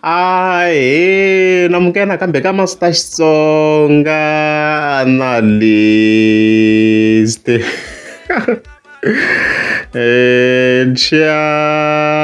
Ahee, nimuka nakambe ka Master Xitsonga Analyst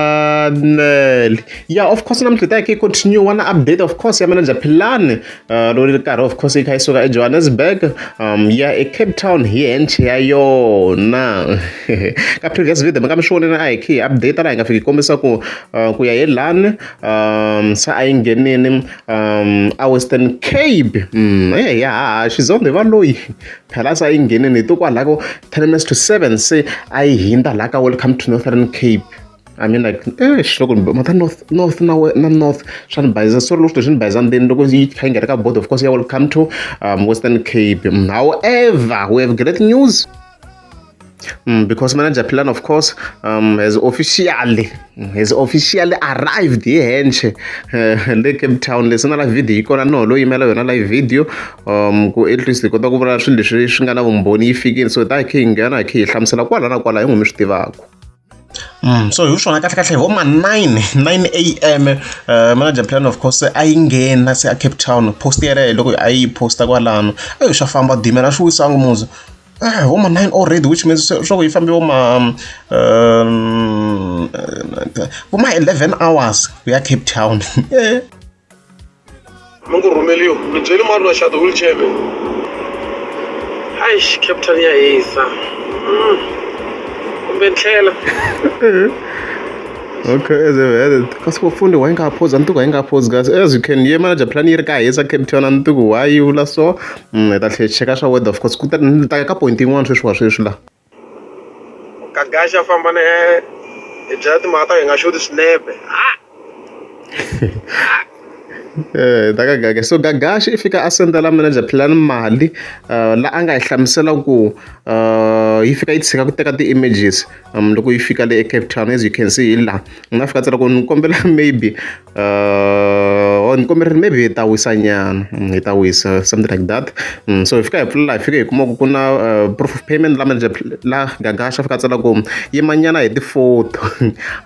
channel ya of course namuntlha hi ta ya hi ya continue-a na update of course ya manager Philani Uh, lori ri karhi of course yi kha yi suka ejohannesburg um ya ecape town hi hench ya yona ka previous video mi nga mi swi voneni a hi khe hi update laha hi nga fiki kombisa ku uh, ku ya hi lani um se a yi nghenini um a western cape mm, e eh, ya haha xizonde va loyi phela se a yi nghenini hi to kwalako ten minutes to seven se a yi hindza laha ka welcome to northern cape I mean like eish loko ni mata north north na na north swa ni bayizisa sorry loko swi ni bayizisa ndzeni loko yi kha yi nga ri ka board of course ya will come to um, western cape mm, however we have great news Mm, because manager Pilan, of course, um, has officially mm, has officially arrived here henche uh, le Cape Town leswi na la video yi kona no lo yimela yona la video um ku at least hi kota ku vula swilo leswi swi nga na vumbhoni yi fikile so ta hi khe yi nghena hi khe hi hlamusela kwala na kwala hi n'wi mi swi tivaka so hi swona kahlekahle hi vo ma nine nine A_M manager plan of course a yi nghena se a Cape Town post yeleyo loko a yi post-a kwalano eyi swa famba switimela a swi wisa ngopfu hi vo ma nine already which means swa ku yi fambe vo ma vo ma eleven hours ku ya Cape Town . mi ku rhumeliwa mi byeli mari na xati wheelchair mi aish captain ya hisa Mm. kumbe ndlela Okay, as I've added. Kasi wafunde wayengaphozi antuku wayengaphozi kasi as you can ye manager plan yi ri ka hisa captain antuku why you la so mm, hi ta tlhe hi cheka swa weather of course ku ta ni ta ya ka point yin'wana sweswi wa sweswi la kagaxa famba na yena hi byela timhaka ta hi nga xoti swinepe ha Eh, ta ka gaga so gagashi i fika a sendela manager plan mali uh, la a nga hi hlamusela ku uh, yi fika yi tshika ku teka ti-images um, loko yi fika le ecape town as you can see hi laha ni nga fika tsela ku ni kombela maybe ni kombela maybe hi ta wisa nyana mm, hi ta wisa something like that mm, so hi fika hi pfula hi fika hi kuma ku ku na uh, proof of payment la manje la gagasha fika tsala ku yimanyana hi ti-photo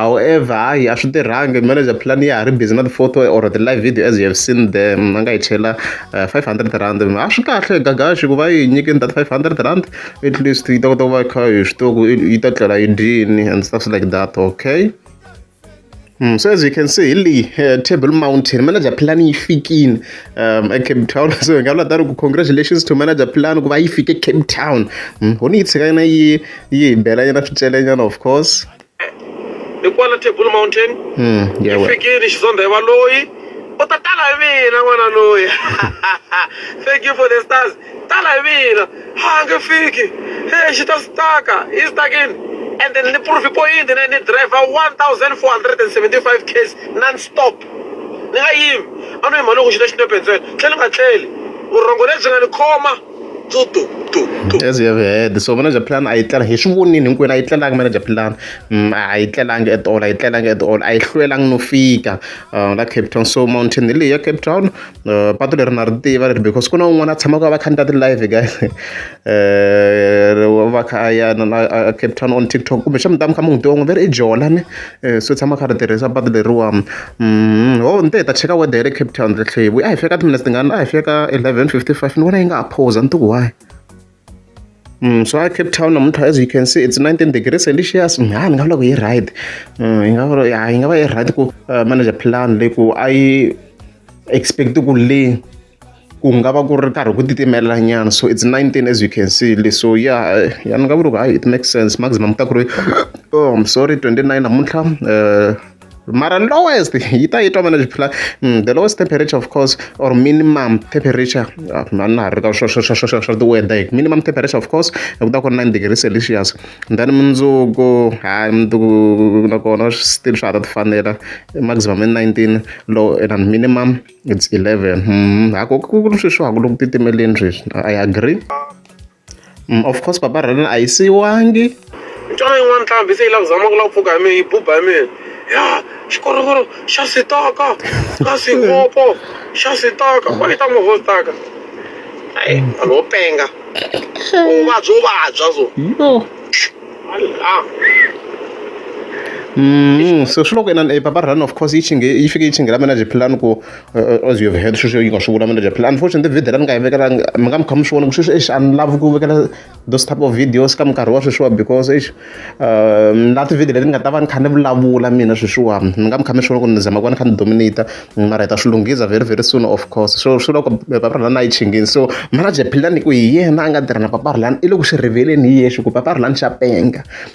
however hayi a swi tirhangi manager plan ya ha ri busy na ti-photo or the live video as you have seen them mm, a nga hi chela uh, 500 rand a swi kahle gagashi ku va yi nyikeni that 500 rand at least yi ta kota ku va kha hi swi tiva ku yi ta tlela yi dyini and stuff like that okay Mm, so as you can see hili uh, table mountain manager plan yi fikile um, ecape town so hi nga vula tani ku congratulations to manager plan ku va yi fike cape town mm, ho ni yi tshika yina yi yi hi belanyana swicelenyana of course hi kwala table mountain mm, yeah, well. fikile xizondha hi valoyi u ta tala hi mina n'wana loyi thank you for the stars tala hi mina a nge fiki he xi ta staka hi stakini ende ni proof point ne ni driver 1475 case non stop ni nga yimi a no yima loko xi ta xinepe ntsena tlhela ni nga tlheli vurhongo lebyi nga ni khoma as you have heard so manager plan a yi tlelanga hi swi vonile hinkwenu a yi tlelanga manager plan mm, a yi tlelanga at all a yi tlelanga at all a yi hlwelanga no fika uh, la cape town so mountain leyi ya cape town patu leri na ri tiva leri because ku na un'wana a tshamaka a va kha ni ta ti-live guys u va kha a ya na na a capetown on tiktok kumbe xa mi ta mi kha mi n'wi tiva n'wi ve ri i jola ni so tshama a kha ri tirhisa patu leriwa ho ni te hi ta cheka weather ya le capetown tlhela hi vuya a hi fika timinetse tingani a hi fika eleven fifty five ni vona yi nga ha phosa ni ti ku why. Mm, swa cape town namuntlha as you can see it's 19 degrees celsius mm, ha ni nga vula ku yi right mm, yi nga vula ya yi nga va yi right ku uh, manager plan leyi ku a yi expect ku le ku nga va ku ri karhi ku titimela nyana so it's 19 as you can see le so ya eh, ya ni nga vula ku hayi it makes sense maximum ta ku ri oh, I'm sorry 29 namuntlha uh, mara lowest yi ta yi twa vana xiphila mm, the lowest temperature of course or minimum temperature ah, mani ha ri ka swa tiweda hi minimum temperature of course ku ta ku ri nine degree celsius then mundzuku ha mundzuku nakona still swa ha ta ti fanela maximum i nineteen low and minimum it's eleven mm, ha ku ku ri sweswi ha ku loko titimeleni sweswi i agree Of course papa Rhena a yi siyiwangi. Ni twa yin'wana ntlhambi se yi lava ku zama ku lava ku pfuka hi mina yi buba hi mina ya xikorokoro xa sitaka na swihopo xa sitaka va yi ta movha wo sitaka hayi vanhu vo penga u vabya u vabya so Mm, so swi loko inani e papa Rhena of course yi chinge yi fike yi chingela mina jiphilani ku as you have heard sweswo yi nga swi vula manager phela unfortunately video la ni nga yi vekelanga mi nga mi kha mi swi vona ku sweswi exi a ni lavi ku vekela those type of videos ka minkarhi wa sweswiwa because exi um la tivhidiyo leti ni nga ta va ni kha ni vulavula mina sweswiwa mi nga mi kha mi swi vona ku ni zama ku va ni kha ni dominata mara hi ta swi lunghisa very very soon of course so swi loko paparulani a yi chingini so manager philani ku hi yena a nga tirha na paparulani i le ku swi riveleni hi yexe ku paparulani xa penga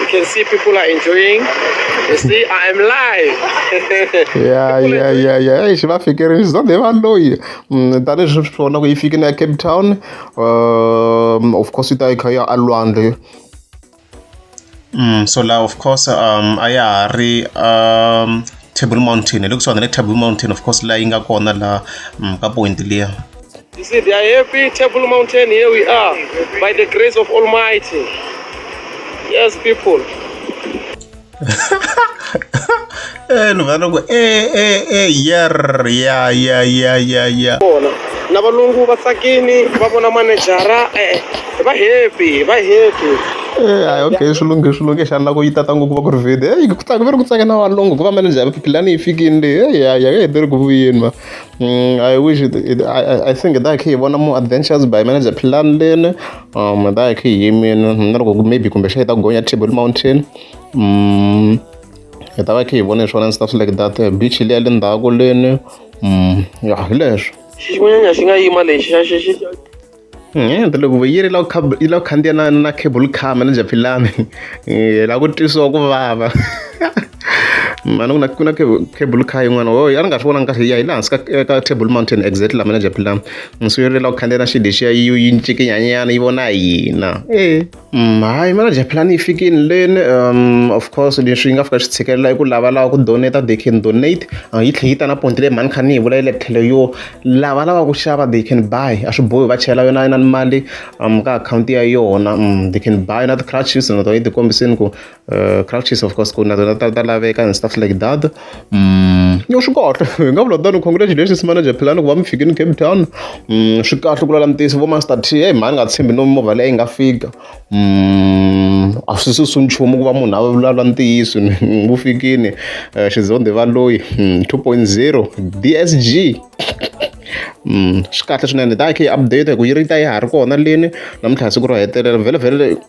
You can see people are enjoying. You see, I am live. yeah, yeah, yeah, yeah. Eish, va fikerile zwa de va loyi. Mm, tani swi vona ku yi fike na Cape Town. Um, of course yi ta yi kha ya alwandle. Mm, so la of course um a ya ha ri um Table Mountain. Hi le kusuhana le Table Mountain of course la yi nga kona la mm, ka point liya. You see, they are happy. Table Mountain, here we are. By the grace of Almighty. Yes, people. eh ni vana ku eh eh eh yer ya ya ya ya ya vona na valungu va tsakini va vona manejara eh va happy va happy eh hayi okay swilungu swilungu xana lako yi tata ngopfu va ku ri video eh ku tsaka va ri ku tsaka na valungu ku va manejara pulani yi fikini leyi eh ya ya ka hi tirhi ku vuyeni ma Mm, I wish it, it, I, I think that khe hi vona mu adventures by manager plan leni um that khe hi mina na loko ku- maybe kumbe xa hi ta gonya table mountain mm, hi ta va khe hi vona swona and stuff like that Eh, beach leya le ndzhaku leni mm, ya hi leswo xinyanya xi nga yima lexi xa xi xi Hmm, ta loko yi ri la yi la ku khandziya na na cable car manager philani eh, la ku twisiwa ku vava mani ku na ku na cable car yin'wana o a ni nga swi vonangi kahle ya hi laha hansi ka eh, ka table mountain exit la manager philani so yi ri la ku khandziya na xi lexiya yi yi ncikinyanyana yi vona hina e Mm, hayi manager plan yi fikile leni um of course leswi yi nga fika swi tshikelela i ku lavalava ku donate they can donate uh, yi tlhe yi ta na ponti leyi mhani kha ni yi vula yi le tlhelo yo lavalava ku xava they can buy a swi bohi va chela yona na ni mali um ka akhawunti ya yona um they can buy na ti-crutches na tona yi ti kombiseni ku Uh, crutches of course ku na tona ta ta laveka and stuff like that mm, yo swi kahle hi nga vula tano congratulations manager philani ku va mi fikini cape town mm, swi kahle ku lala ntiyiso vo master t hey mhani nga tshembi no mimovha leyi nga fika mm, a swi susu nchumu ku va munhu a vulavula ntiyiso wu fikini uh, eh, xizonde va loyi mm, 2.0 dsg Mm, swi kahle swinene da khe update hi ku yi ri ta yi ha ri kona leni namuntlha siku ro hetelela vhele vhele